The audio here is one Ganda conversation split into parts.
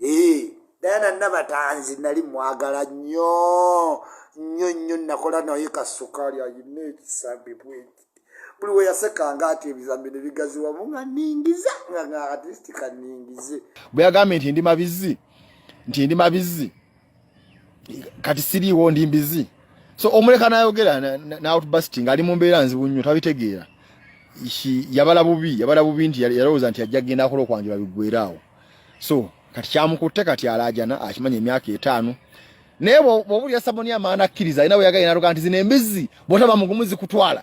ee diana nabatanzi nali mwagala nyo nyo nyo nakola naye kasukali ayina ekisambi bweki buli weyasekanga ati ebizambi nebigaziwamu nga ningiza nga nga atisti kaningize bweyagambye nti ndi mabizi nti ndi mabizi kati siriiwo ndi mbizi so omuleka nayogera naotbusting ali mu mbeera nzibu nnyo tabitegeera yabala bubi yabala bubi nti yalowooza nti ajja kugenda akola okwanjula biggwera awo so kati kyamukutte kati alaajana akimanya emyaka etaano naye bwobulira saboni amaana akkiriza alina bweyagaye natuga nti zino embizzi bwotaba mugumu zikutwala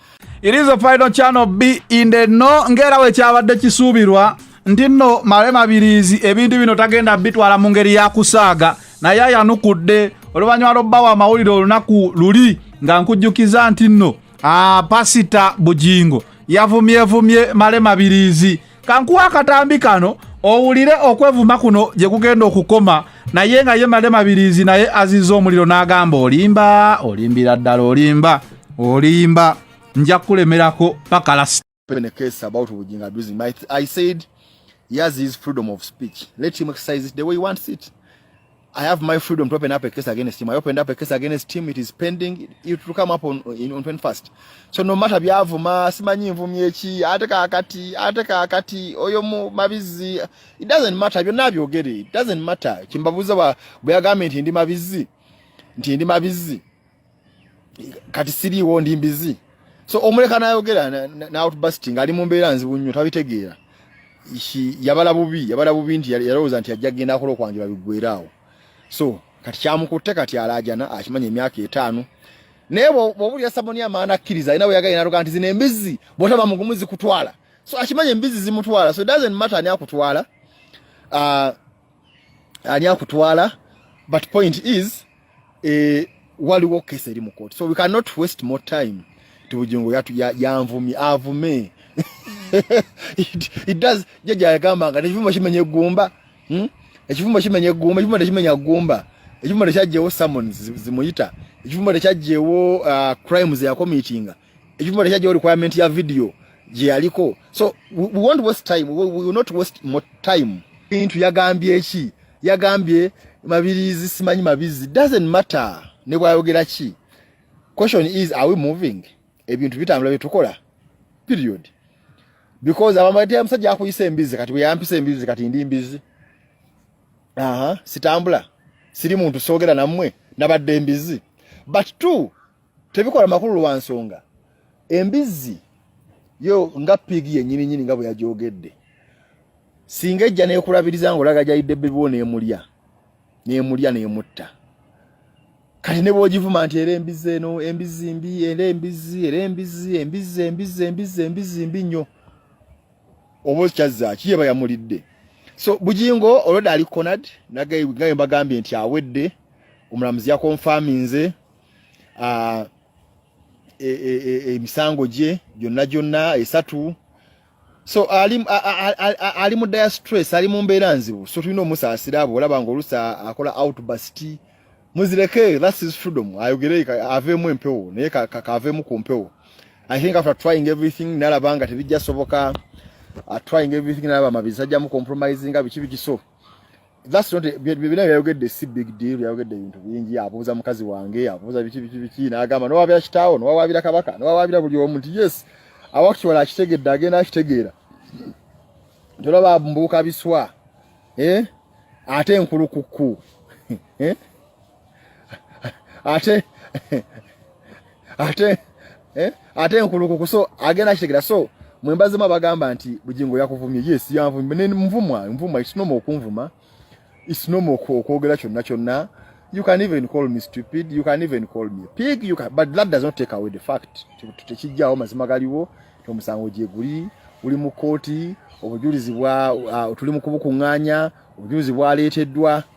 It is a final channel be in the no ngera we kyabadde kisuubirwa nti nno male mabiriizi ebintu bino tagenda bitwala mu ngeri ya kusaaga naye ayanukudde oluvannyuma lw'obbawo amawulire olunaku luli nga nkujjukiza nti nno ah, pasita bugingo yavumievumye male mabiriizi kankuwa akatambi kano owulire okwevuma kuno gye kugenda okukoma naye nga ye male mabirizi naye aziza omuliro n'agamba olimba olimbira ddala olimba olimba nja kukulemerako paka last in a case about Ujinga abusing. My, I said, yes, his freedom of speech. Let him exercise it the way he wants it. I have my freedom to open up a case against him. I opened up a case against him. It is pending. It will come up on, in, on 21st. So no matter byavuma, simanyi mvumi eki, ate kakati, ate kakati, oyo mu mabizi. It doesn't matter. Byo nabyo geri. It doesn't matter. Kimbabuza wa, buyagame nti ndi mabizi. Nti ndi mabizi. kati siriiwo ndi mbizi so omuleka nayogera nautbusting ali mu mbeera nzibu nnyo tabitegeera yabala bubi yabala bubi nti yalowooza nti ajja kugenda akola okwanjula biggwera awo so kati kyamukutte kati alaajana akimanya emyaka etaano naye bwobulira saboni amaana akkiriza alina bweyagala naloga nti zino embizzi bwotaba mugumu zikutwala so akimanya embizzi zimutwala so doesn't matter ani akutwala uh, ani akutwala but point is eh waliwo kesi eri mu court so we cannot waste more time tibujingo yatu yanvumi ya avume it, it does jaja yagamba nga nekivuma kimenya egumba hmm? ekivuma kimenya egumba ekivuma tekimenya gumba ekivuma tekyajjewo summons zimuyita ekivuma tekyajjewo uh, crimes yakomitinga If you have a requirement ya video, je aliko. So we, we won't waste time. We, we will not waste more time. Into yagambye chi. Yagambye mabirizi simanyi mabizi. Doesn't matter. Ne kwa yogera chi. Question is, are we moving? Ebintu vita amlawe tukola. Period. Because abamati amsaji haku yise mbizi. Kati wea mpise mbizi. Kati indi mbizi. Aha. Sitambula. Siri mtu sogera na mwe. Nabade mbizi. But two, tebikola makulu lwa nsonga embizzi yo nga pigi yenyini nyini nga bwe yajogedde singa ejja nekulabiriza nga olaga gyayidde bibiwo nemulya nemulya nemutta kati ne bwogivuma nti era embizzi eno embizzi mbi era embizzi era embizzi embizzi embizzi embizzi embizzi mbi nnyo oba okyazzaaki yeba yamulidde so bujingo olwoda ali conad nagaye mbagambye nti awedde omulamuzi yakonfaminze ah, e, e, e, emisango gye gyonna gyonna esatu so ali ali mu dire stress ali mu mbeera nzibu so tulina omusaasira abo olaba nga olusa akola outburst muzireke that's his freedom ayogere aveemu empewo naye kakaveemu ku mpewo i think after trying everything nalaba nga tebijja soboka uh, trying everything nalaba mabizajjamu compromising biki biki so that's not bibina yayogedde si big deal yayogedde ebintu bingi abuuza mukazi wange abuuza biki biki biki n'agamba nowabira kitaawo nowawabira kabaka nowawabira buli omu nti yes awakitwala akitegedde agenda akitegeera tolaba mbuuka biswa eh? ate enkulukukku eh? ate ate eh ate nkulukuku so agenda kitegera so mwembaze mwa bagamba nti bujingo yakuvumye yes yanvumye ne mvumwa mvumwa it's normal okunvuma it's normal ko kwogera kyonna kyonna you can even call me stupid you can even call me pig you can but that does not take away the fact tekijjawo mazima galiwo tomusango gye guli uli mu kooti obujulizi bwa uh, tuli mu kubukunganya obujulizi bwaleeteddwa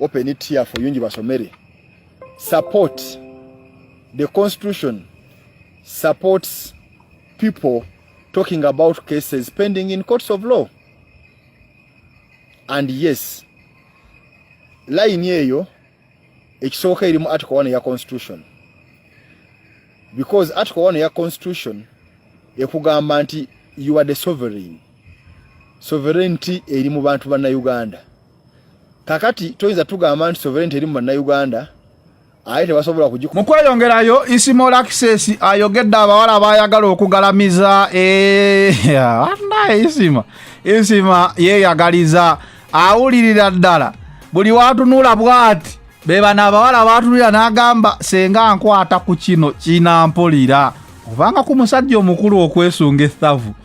open it here for yungi basomere support the constitution supports people talking about cases pending in courts of law and yes line eyo ekisoboka erimu article 1 ya constitution because article 1 ya constitution ekugamba nti you are the sovereign sovereignty eri mu bantu banna uganda kakati toyinza tugamba nti sovereignty eri mu bannayuganda aye tebasobola kugikuba mu kweyongerayo ismall access ayogedde abawala baayagala okugalamiza anaye eh, isima isima yeeyagaliza awulirira ddala buli watunula bwati bebano abawala batunulira n'agamba senga nkwata ku kino kinampulira obanga ku musajja omukulu okwesunga ethavu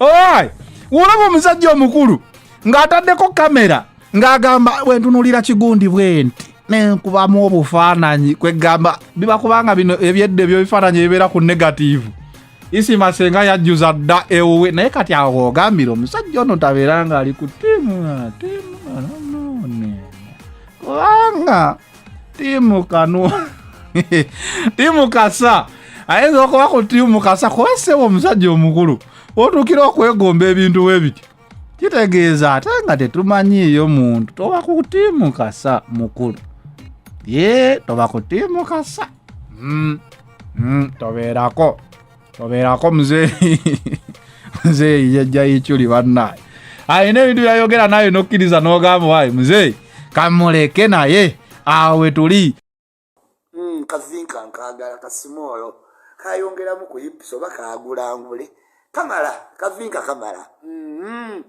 Alright. Wolaba omusajja omukulu ng'ataddeko kamera ng'agamba bwentunulira kigundi bwenti nenkubamu obufaananyi kwegamba biba kubanga bino ebyedda ebyobifaananyi ebibeera ku negativu isi masenga yajjuza dda ewuwe naye kati awo ogambira omusajja ono tabeera ng'ali ku tiimu tiimu kubanga timu kanu timu kasa ayinza okuba ku timu kasa kuba sebo omusajja omukulu otuukira okwegomba ebintu we bityo kitegeeza ate nga tetumanyiiyo muntu toba ku timu kasa mukulu ye toba ku timu kasa mm, mm, tobeerako tobeerako muzeeyi muzeeyi jajja yichuli bannaye alina ebintu byayogera naye nokkiriza n'ogamba wayi muzeeyi kamuleke naye awo we tuli hmm, kazinka nkagala kasimoolo kayongeramu ku hips oba kagulangule kamala kavinka kamala mm-hmm.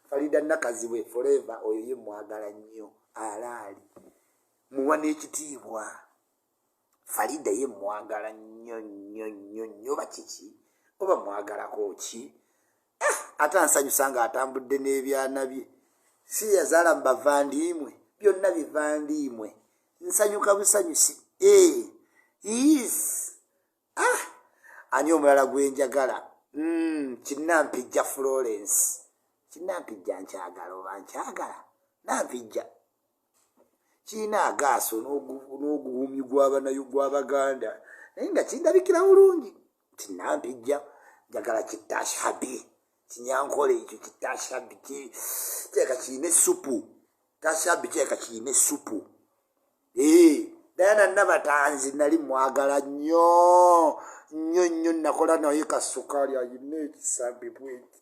falida nakazibwe foreva oyo ye mwagala nnyo alaali muwa n'ekitiibwa falida ye mwagala nnyo nnyo nnyo nnyo bakiki oba mwagalako ki eh, ate ansanyusa nga atambudde n'ebyana bye si yazaala mu bavandiimwe byonna bivandiimwe nsanyuka busanyusi eh, is ah, ani omulala gwenjagala mm, kinampijja florence kinampijja nkyagala oba nkyagala nampijja kirina agaaso n'oguwumyi gw'abaganda naye nga kindabikira bulungi nti nampijja njagala kitashabi kinyankole ekyo kitashabi kireka kirina essupu tashabi kireka kirina essupu ee dayana nabatanzi nali mwagala nnyo nnyo nnyo nakola naye kasukaali ayina ekisambi bweki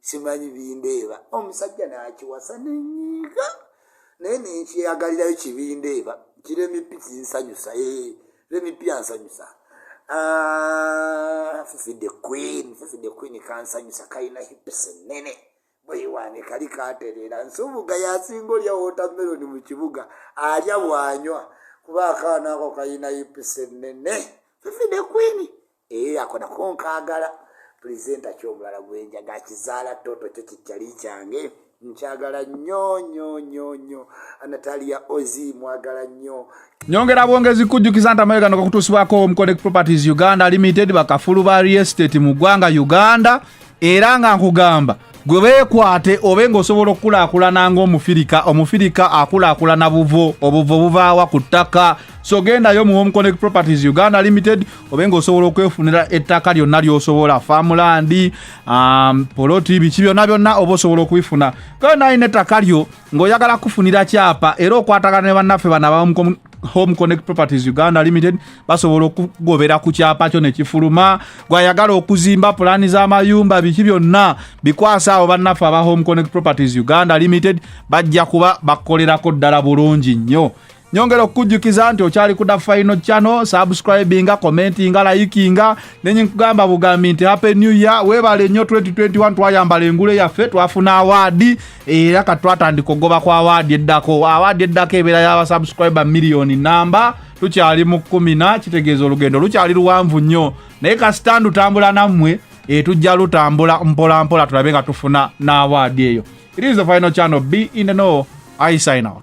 simanyi bindeeba omusajja nakiwasa nenyiiga naye nekyeyagalirayo kibindeeba kiremipi kinsanyusa eh, remipi ansanyusa ah, fifi the queen fifi the queen kansanyusa kalina hips nene bweyiwange kali katereera nsubuga yasinga olya wotameroni mu kibuga alya bwanywa kuba akaana ako kalina hips nene fifi the queen eyo yakona kunkagala presenta kyomulala gwenjaga kizaala toto kyo kikyali kyange nkyagala nyo nyo nyo nyo anatalia ozi mwagala nyo nyongera bwongezi kujjukiza nti amayegano gakutuusibwako omconnect properties uganda limited bakafulu ba real estate mu ggwanga uganda era nga nkugamba gwe beekwate obe ng'osobola okukulaakulana ng'omufirika omufirika akulaakulana buvo obuvo buvaawa ku ttaka so gendayo mu homeconnect properties uganda limited obe ng'osobola okwefunira ettaka lyonna ly'osobola faamulandi um, poloti biki byonna byonna oba osobola okubifuna genda alina ettaka lyo ng'oyagala kufunira kyapa era okwatagana ne bannaffe bana ba home connect properties uganda limited basobola okugobera ku kyapa kyo nekifuluma gwayagala okuzimba pulaani z'amayumba biki byonna bikwasa awo bannaffe aba home connect properties uganda limited bajja kuba bakolerako ddala bulungi nnyo nyongera okukujjukiza nti okyali kuda final channel subscribinga commentinga layikinga nenye nkugamba bugambi nti happy new year webale nnyo 2021 twayambala engule yaffe twafuna awaadi era kati twatandika okugoba kwa awaadi eddako awaadi eddako ebeera yabasubscriber miliyoni namba tukyali mu kumina kitegeeza olugendo lukyali luwanvu nnyo naye kasita ndutambula nammwe etujja eh, lutambula mpola mpola tulabe nga tufuna n'awaadi eyo it is the final channel be in the know i sign out